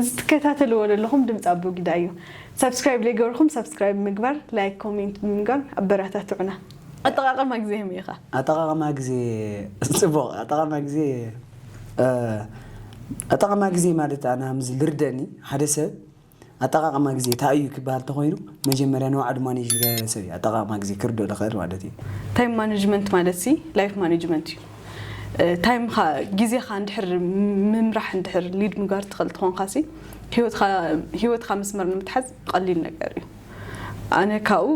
እዚ ትከታተልዎ ደለኹም ድምጺ ኣቦጊዳ እዩ ሳብስክራይብ ለይገበርኹም ሳብስክራይብ ብምግባር ላይክ ኮሜንት ብምንጋር ኣበራታትዑና ኣጠቃቅማ ግዜ ከመይ ኢኻ? ኣጠቃቅማ ግዜ ጽቡቅ ኣጠቃቅማ ግዜ ኣጠቃቅማ ግዜ ማለት ኣነ ከም ዝርደኣኒ ሓደ ሰብ ኣጠቃቅማ ግዜ ታይ እዩ ክበሃል ተኾይኑ መጀመርያ ንባዕሉ ማኔጅ ዝገበረ ሰብ እዩ ኣጠቃቅማ ግዜ ክርደኦ ዝኽእል ማለት እዩ። ታይም ማነጅመንት ማለትሲ ላይፍ ማነጅመንት እዩ። ታይም ግዜኻ እንድሕር ምምራሕ እንድሕር ሊድ ምጋር ትኽእል ተኾንካ ሲ ህይወትካ መስመር ንምትሓዝ ቐሊል ነገር እዩ ኣነ ካብኡ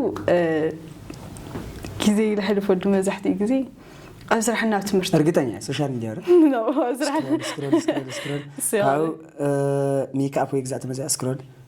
ግዜ ለሕልፈሉ መብዛሕትኡ ግዜ ኣብ ስራሕን ኣብ ትምህርቲ እርግጠኛ እየ ሶሻል ሚዲያ ዶ ነው ኣብ ስራሕ ስክሮል ስክሮል ስክሮል ስክሮል ካብኡ ሜክኣፕ ወይ ግዛእ ተመዚኣ ስክሮል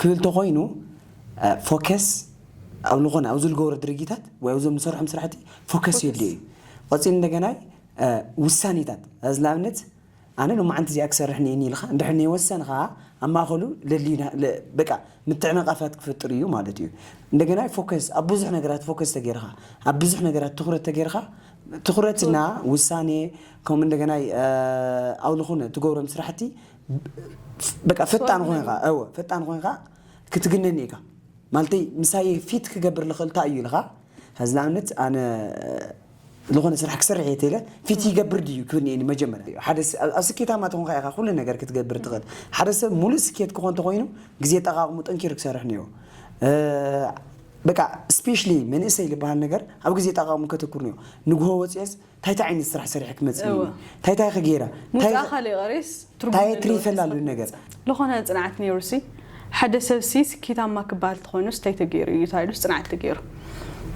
ክብል ተኾይኑ ፎከስ ኣብ ልኾነ ኣብዚ ልገብሮ ድርጊታት ወይ ኣብዞም ልሰርሖም ስራሕቲ ፎከስ የድልዮ እዩ። ቐጺሉ እንደገና ውሳኔታት ኣዚ ንኣብነት ኣነ ሎማዓንቲ እዚኣ ክሰርሕ እኒኤኒ ኢልኻ እንድሕር ነይወሰንኻ ኣብ ማእኸሉ ለልዩ በቃ ምትዕንቓፋት ክፈጥር እዩ ማለት እዩ። እንደገና ፎከስ ኣብ ብዙሕ ነገራት ፎከስ ተገይርኻ ኣብ ብዙሕ ነገራት ትኹረት ተገይርኻ ትኹረት እና ውሳኔ ከምኡ እንደገና ኣብ ልኾነ ትገብሮም ስራሕቲ በቃ ፈጣን ኮይንካ እወ ፈጣን ኮይንካ ክትግነኒ ኢካ ማለተይ ምሳየ ፊት ክገብር ልኽእል እንታይ እዩ ኢልካ ሕዚ ንኣብነት ኣነ ዝኾነ ስራሕ ክሰርሕ እየ ተለ ፊት ይገብር ድዩ ክብል እኒ መጀመርያ እዩ ሓደ ኣብ ስኬታማ ተኾንካ ኢኻ ኩሉ ነገር ክትገብር ትኽእል ሓደ ሰብ ሙሉእ ስኬት ክኾን ተኾይኑ ግዜ ጠቃቅሙ ጠንኪሩ ክሰርሕ ነይሩ በቃ ስፔሻሊ መንእሰይ ዝበሃል ነገር ኣብ ግዜ ጠቃቅሙ ከተኩር ነይሩ ንግሆ ወፅኦስ ታይ ታይ ዓይነት ስራሕ ሰሪሐ ክመፅእ እየ እወ። ታይ ታይ ከ ገይረ ታይ ሙዚቃ ካልእ ቀሪስ ትርጉም ታየ ትሪ ዘለዎ ይፈላሉ ተስፋ ነገር ክገብር። ልኾነ ፅንዓት ነይሩሲ ሓደ ሰብሲ ስኬታማ ክበሃል ተኾይኑስ ታይ ተገይሩ እዩ ተባሂሉስ ፅንዓት ተገይሩ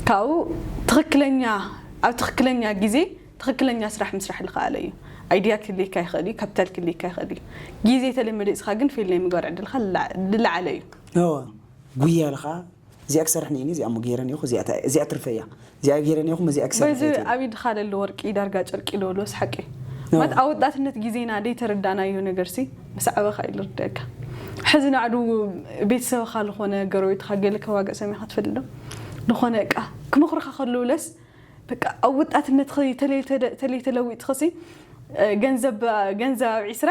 ካብኡ ትኽክለኛ ኣብ ትኽክለኛ ግዜ ትኽክለኛ ስራሕ ምስራሕ ልኸኣለ እዩ ኣይድያ ክህልየካ ይኽእል እዩ ካፒታል ክህልየካ ይኽእል እዩ ግዜ ተለመዲፅካ ግን ፌል ናይ ምግባር ዕድልካ ልላ- ልለዓለ እዩ እወ ጉያ ኢልኻ እዚኣ ክሰርሕ ነይኒ እዚኣ እሞ ገይረ ኔኹ እዚኣ ታይ እዚኣ ትርፈይ እያ እዚኣ ገይረ ኔኹ እዚኣ ክሰርሕ ባይዘ እየ ትብል። ኣብ ኢድኻ ለሎ ወርቂ ዳርጋ ጨርቂ ዶ ሎስ ሓቂ ማለት ኣወዳትነት ጊዜና ደይተረዳእናዮ ነገርሲ ምስ ዓበኻ እዩ ልርደኣካ ሕዚ ናዕዱ ቤተሰብኻ ልኾነ ገረቤትኻ ገለ ከዋግእ ሰሚዕኻ ትፈልጥ ዶ ልኾነ እቃ ክመኽሩኻ ከለዉ ለስ በቃ ኣብ ወጣትነትኺ ተለይ ተደ ተለይ ተለዊጥኽሲ ገንዘብ ገንዘብ ኣብ ዒስራ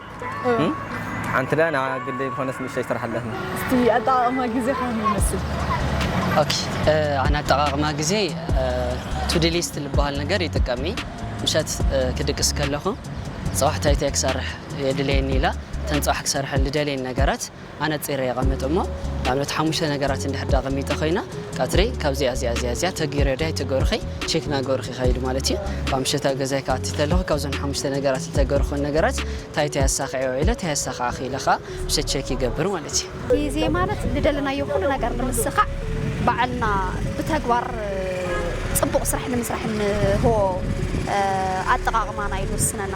ሓንቲ ዳኣ ንዓ ግደይ ዝኾነስ ንእሽተይ ስራሕ ኣለትኒ። እስቲ ኣጠቓቕማ ግዜ ከመይ ይመስል? ኦኬ ኣነ ኣጠቓቕማ ግዜ ቱዲ ሊስት ዝበሃል ነገር ይጥቀም እየ። ምሸት ክድቅስ ከለኹ ፅባሕ እንታይ እንታይ ክሰርሕ የድልየኒ ኢለ እተን ፅባሕ ክሰርሐን ዝደልየን ነገራት ኣነጺረ የቐምጥ እሞ ንኣብነት ሓሙሽተ ነገራት እንድሕር ድኣ ኣቐሚጠ ኮይና ቀትሪ ካብዚኣ እዚኣ እዚኣ እዚኣ ተገይረ ድያ ኣይተገሩኺ ቼክ ናገሩኺ ይኸይድ ማለት እዩ ካብ ምሸት ኣብ ገዛይ ክኣቲ ተለኹ ካብዞም ሓሙሽተ ነገራት ዝተገርኹን ነገራት እንታይ እንታይ ኣሳኺዐ ውዒለ እንታይ ኣሳኻዕኺ ኢለ ከዓ ምሸት ቼክ ይገብር ማለት እዩ ግዜ ማለት ንደለናዮ ኩሉ ነገር ንምስኻዕ ባዕልና ብተግባር ፅቡቕ ስራሕ ንምስራሕ እንህቦ ኣጠቓቕማና እዩ ዝውስነና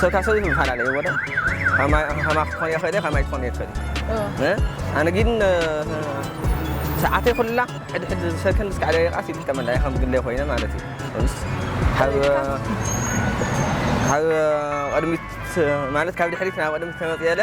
ሰታ ሰብት ምፋላለ ወደ ከማክ ትኾን የ ክእል ከማይ ትኾን የ ክእል ኣነ ግን ሰዓተይ ኩላ ሕድሕድ ሰከንድ እስካዕ ደቂቃስ ይጥቀመላ ከም ግለይ ኮይነ ማለት እዩ ካብ ቅድሚት ማለት ካብ ድሕሪት ናብ ቅድሚት ተመፅየለ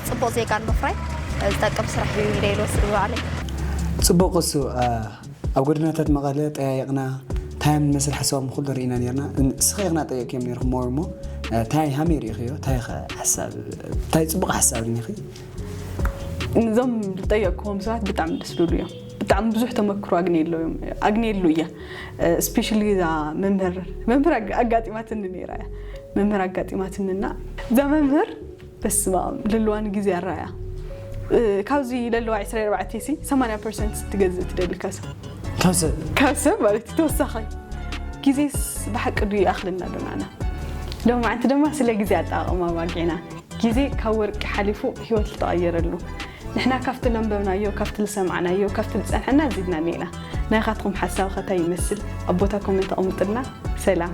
ፅቡቕ ዜጋ ንምፍራይ ዝጠቅም ስራሕ እዩ ኢለ ልወስድ ብባዕለይ። ፅቡቕ እሱ ኣብ ጎደናታት መቐለ ጠያይቕና ታያም ንመስል ሓሳቦም ኹሉ ርኢና ነርና ንስኺ ኢኽና ጠይቕክዮም ነርኹም ሞር እሞ ታይ ሃመይ ርኢኽዮ ታይ ኸ ሓሳብ ታይ ፅቡቕ ሓሳብ ርኒኺ ንዞም ዝጠየቅክዎም ሰባት ብጣዕሚ ደስ ዝብሉ እዮም ብጣዕሚ ብዙሕ ተመክሮ ኣግኔሎ ኣግኔሉ እየ ስፔሻሊ እዛ መምህር መምህር ኣጋጢማትኒ ነይራ እያ መምህር ኣጋጢማትኒ እና እዛ መምህር በስማኣም ለለዋ ንግዜ ኣራያ ካብዚ ለለዋ ዕስራ ኣርባዕተ ሲ ሰማንያ ፐርሰንት ስትገዝእ ትደሊ ካብ ሰብ ካብ ሰብ ካብ ሰብ ማለት እዩ ተወሳኺ ግዜስ ብሓቂ ድዩ ይኣኽለና ዶ ናዓና ሎማዓንቲ ድማ ስለ ግዜ ኣጠቓቕማ ኣባጊዕና ግዜ ካብ ወርቂ ሓሊፉ ሂወት ልተቐየረሉ ንሕና ካብቲ ለንበብናዮ ካብቲ ልሰማዕናዮ ካብቲ ልጸንሐና ኣዚድና ኒኢና ናይኻትኹም ሓሳብኸ ታይ ይመስል ኣብ ቦታ ኮመንት ኣቕምጥልና ሰላም።